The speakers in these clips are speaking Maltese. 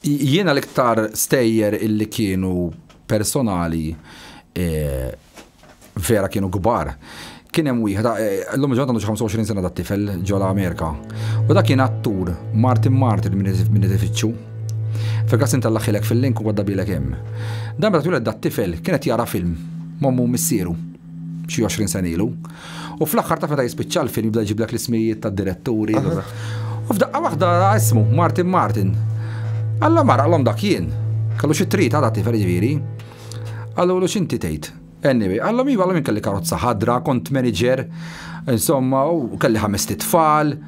Jiena l-iktar stejjer illi kienu personali vera kienu kbar. Kien hemm wieħed, llum il-ġurnata għandu xi 25 sena dat-tifel ġo l-Amerika. U dak kien attur Martin Martin minn Edifiċċju. Fil-każ inti allaħħilek fil-link u għadda bielek hemm. Dan meta tweled dat-tifel kien qed jara film m'ommu u missieru. xi 20 sen ilu. U fl-aħħar ta' meta jispiċċa l-film jibda jġiblek l-ismijiet tad-diretturi. U f'daqqa waħda ismu Martin Martin. Alla mara l dak jien. Kellu xi trid għadha tifel ġifieri. Għallu l xinti tgħid. Anyway, għallom jiva minn kelli karozza ħadra, kont manager, insomma, u kelli ħames tfal.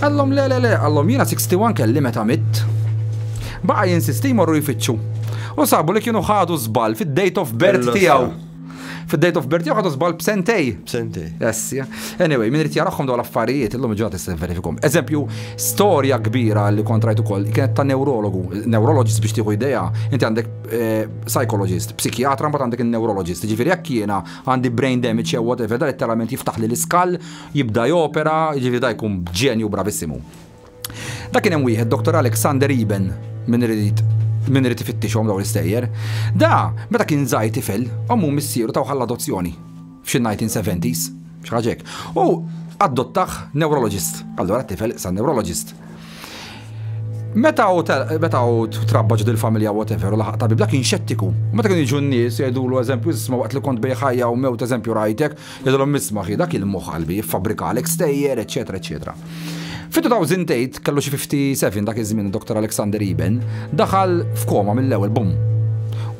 Għallom le le le, għallom jiena 61 kelli meta mitt. Baqa jinsisti jmorru jfittxu. U sabu li kienu ħadu żball fid-date of birth tiegħu. Fid-date of birth tiegħu ħadu żball b'sentej. B'sentej. Yes, Anyway, min irid jarahom dawn l-affarijiet illum ġod tista' verifikum. Eżempju, storja kbira li kontrajt ukoll kienet ta' neurologu, neurologist biex tieħu idea, inti għandek eh, psychologist, psikjatra mbagħad għandek in-neurologist. Ġifieri jekk jiena għandi brain damage jew whatever, dan it-terament jiftaħ li l-iskall jibda jopera, jiġifieri da jkun ġenju bravissimu. Da kien hemm wieħed Dr. Alexander Iben minn irid minn irid ifittixhom dawn l-istejjer. Da, meta kien żgħir tifel, ommu missieru taw ħall adozzjoni f'xi 1970s, xi ħaġa hekk. U adottaħ neurologist. Allura t-tifel sa neurologist. Meta u meta u trabba ġdil familja whatever u laħaq tabib dak kien xettiku. Meta kien jiġu n-nies jgħidulu eżempju isma' waqt li kont bej ħajja u mewt eżempju rajtek, Jgħidilhom isma' ħi dak il-moħħ qalbi jiffabbrikalek stejjer, eċċetera, eċċetera. Fit-2008, kellu xi 57 dak iż-żmien id-Dottor Alexander Eben, daħal f'koma mill-ewwel bumm.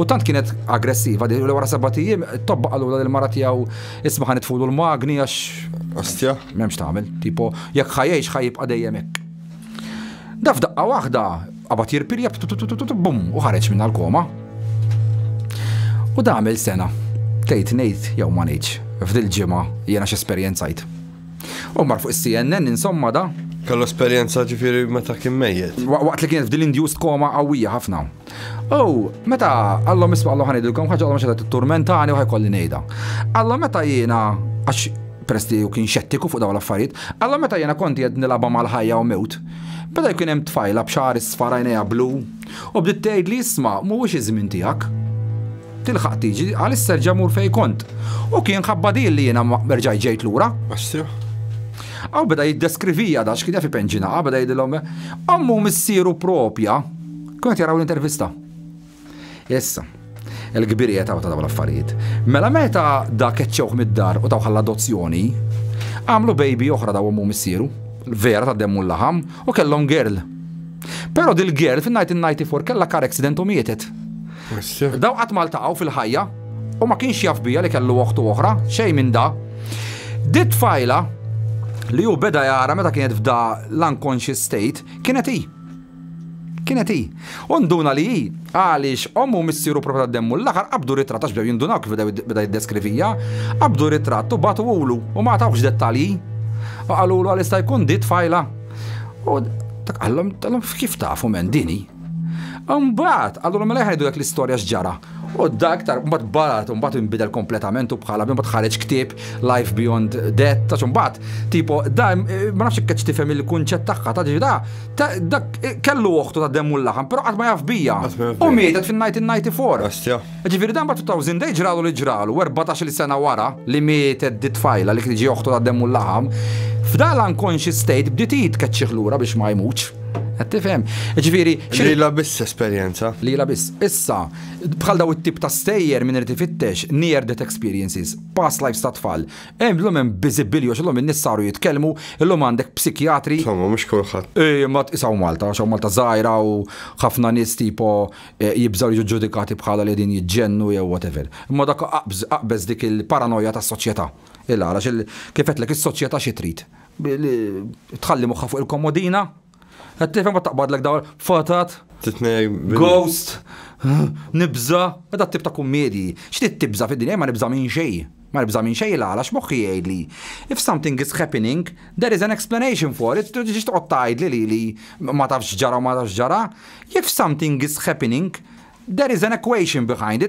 U tant kienet aggressiva li wara sebat ijiem tobba qalula lil mara tiegħu isma' ħan itfulu l-magni għax. Ostja. M'hemmx tagħmel, tipo jekk ħajjejx ħajibqa' dejjem hekk. Daf daqqa waħda Qabad jirpirja bum u ħareġ minnha l-koma. U da għamil sena. Tgħid ngħid jew ma ngħidx, f'dil ġimgħa jiena x'esperjenzajt. U mar fuq is-CNN insomma da. Kellu esperjenza ġifieri meta kien mejjet. Waqt li kien f'dil induced koma qawwija ħafna. U meta għallhom isma' għallhom ħanidilkom ħaġa għallhom xedet turmentani u ħajkolli ngħidha. Għallhom meta jiena għax peress li kien xettiku fuq dawn l-affarijiet, għallhom meta jiena konti qed nilagħba mal-ħajja u mewt. Beda jkun hemm tfajla b'xagħar isfar għajnejha blu u bdiet tgħidli isma' mhuwiex iż-żmien tiegħek. Tilħaq tiġi għalissa erġa' mur fejn kont. U kien ħabba din li jiena ma rġajt ġejt lura. Assiħ. Aw beda jiddeskrivija da x'kien jaf ipenġinaha beda jgħidilhom ommu missieru propja kienet jaraw l-intervista. Issa, il-kbir qiegħed hawn ta' dawn l-affarijiet. Mela meta dak eċċewh mid-dar u tawħa l-adozzjoni, għamlu baby oħra daw ommu missieru, vera ta' demmu l-laħam, u kellhom girl. Però dil-girl fin-1994 kellha car accident u mietet. Daw qatt maltaqgħu fil-ħajja u ma kienx jaf bija li kellu oħtu oħra, xejn minn da. Dit tfajla li hu beda jara meta kienet f'da l-unconscious state kienet hi. Kienet hi. U nduna li hi, għaliex ommu u missieru propju tad-demmu l-aħħar qabdu ritratt għax bdew jindunaw kif beda jiddeskrivija, qabdu ritratt u bagħtuhulu u ma tawx dettalji. U qalulu għal jista' jkun di tfajla. U dak qallhom talhom kif tafu men din hi. Imbagħad qalulhom mela ħajdu dak l-istorja x'ġara. U dak tar mbagħad barat u mbagħad inbidel kompletament u bħala bħal mbagħad ħareġ ktieb Life Beyond Death ta' mbagħad tipo da ma nafx keċ tifhem il-kunċett tagħha ta' da Ta- Dak kellu oħtu ta' demm u l-laħam, però qatt ma jaf bija. Qatt ma jaf U bija. mietet fin-1994. Ostja. Ġifieri dan mbagħad 2000 day ġralu li ġralu, u 14-il sena wara li mietet dit-tfajla li kienet ġie oħtu ta' demm u l-laħam, f'dan l-unconscious state bdiet hi tkeċċih lura biex ma jmutx. Qed tifhem? Ġifieri xi- Lilha biss esperjenza. Lila biss. Issa, bħal daw it-tip ta' stejjer min irid ifittex near death experiences, past lives ta' tfal, Hemm llum hemm biżibbili għax illum in-nies saru jitkellmu, illum għandek psikjatri. Insomma, mhux kulħadd. Eh, ma tqisaw Malta, għax Malta żgħira u ħafna nies tipo eh, jibżgħu jiġu ġudikati bħala li din jiġġennu jew whatever. Imma dak aqbeż dik il-paranoja tas-soċjetà. Il-għalax kif qedlek is-soċjetà xi trid. Tħalli moħħa fuq il-komodina, Qed tifhem ma taqbadlek dawn fatat. Titnej. Ghost. Nibża. Meta tip ta' kummedji. X'tit tibża fid-dinja ma nibża minn xejn. Ma nibża minn xejn għala x'moħħi jgħidli. If something is happening, there is an explanation for it. Ġiex toqgħod tgħidli li li ma tafx ġara u ma tafx ġara. If something is happening, there is an equation behind it.